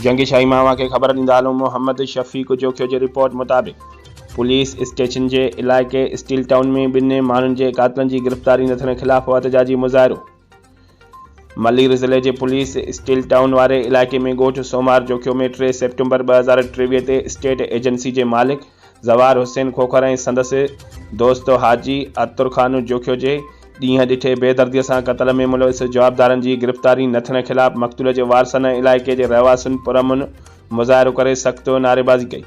جنگي شاهي ماهوا کي خبر ڏيندا علوم محمد شفيق جوکيو جي رپورٽ مطابق پوليس اسٽيشن جي علائقي اسٽيل ٽائون ۾ ٻن ماڻهن جي قاتلن جي گرفتاري نه ٿيڻ خلاف احتجاجي مظاهرو ملير ضلعي جي پوليس اسٽيل ٽائون واري علائقي ۾ ڳوٺ سومار جوکيو ۾ ٽي سيپٽمبر ٻه هزار ٽيويهه تي اسٽيٽ ايجنسي جي مالڪ زوار حسين کوکر ۽ سندس دوست حاجي عطر خان جوکيو جي ڏينهن ڏٺي بي دردي سان قتل ۾ ملوث جوابدارن جي گرفتاري نه ٿيڻ خلاف مقتول جي وارثن ۽ علائقي جي رهواسين پرامن مظاهرو ڪري سخت نعريبازي ڪئي.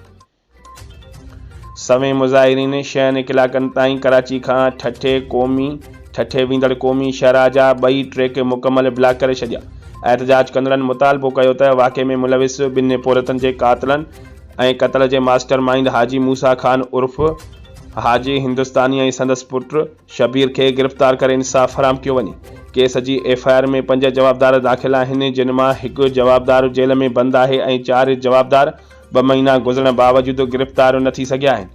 سوين مظاهرين شهن ڪلاڪن تائين ڪراچي کان ٺٽي قومي ٺٽي ويندڙ قومي شاهراهه جا ٻئي ٽريڪ مڪمل بلاڪ ڪري ڇڏيا. احتجاج ڪندڙن مطالبو ڪيو ته واقعي ۾ ملوث ٻن پورهيتن جي قاتلن ۽ قتل جي ماسٽر مائينڊ حاجي موسيٰ خان عرف حاجي هندستاني ۽ سندس پٽ شبير کي گرفتار ڪري انصاف فراهم ڪيو وڃي. ڪيس جي ايف آء آر ۾ پنج جوابدار داخل آهن جن مان هڪ جوابدار جيل ۾ بند آهي ۽ چار جوابدار ٻه مهينا گذرڻ باوجود گرفتار نه ٿي سگهيا آهن.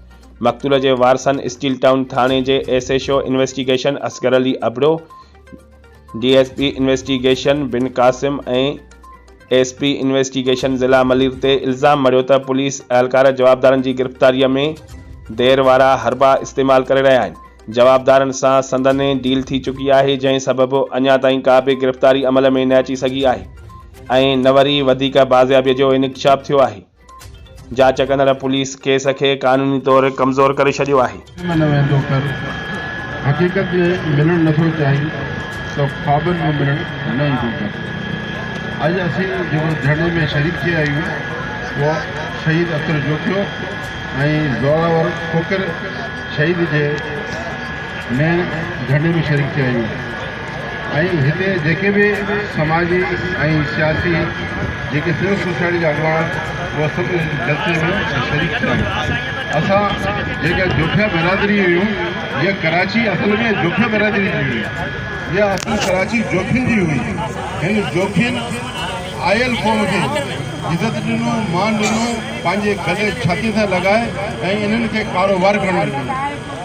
مقتول جي وارثن اسٽيل ٽائون ٿاڻي جي S H O investigation Asghar Ali Abro, D S P investigation Bin Qasim ۽ S P investigation ضلع ملير تي الزام مڙهيو ته پوليس اهلڪار جوابدارن جي گرفتاري ۾ دير وارا حربا استعمال ڪري رهيا آهن، جوابدارن سان سندنهن ڊيل ٿي چڪي آهي جنهن سبب اڃا تائين ڪا به گرفتاري عمل ۾ نه اچي سگهي آهي ۽ نه وري وڌيڪ بازيابي جو انڪشاف ٿيو آهي. جاچ ڪندڙ پوليس ڪيس کي قانوني طور ڪمزور ڪري ڇڏيو آهي. ۾ نه ويندو ڪر حقيقت ۾ ملڻ نٿو چاهين ته خوابن ۾ ملڻ نه ايندو ڪر اڄ اسين جيڪو ڌرڻي ۾ شريڪ ٿيا آهيون اهو شهيد اختر جوکيو ۽ زوراور کوکر شهيد جي مين ڌرڻي ۾ شريڪ ٿيا آهيون. ۽ هتي جيڪي به سماجي ۽ سياسي جيڪي سول سوسائٽي جا اڳواڻ اهي سڀ هن جلسي ۾ شريڪ ٿيا اسان جيڪا جوکيا برادري هيون هيء ڪراچي اصل ۾ جوکيا برادري جي هئي هيء اصل ڪراچي جوکين جي هئي هن جوکين آيل قوم کي عزت ڏنو مان ڏنو پنهنجي گلي ڇاتي سان لڳائي ۽ انهن کي ڪاروبار ڪرڻ ڏنو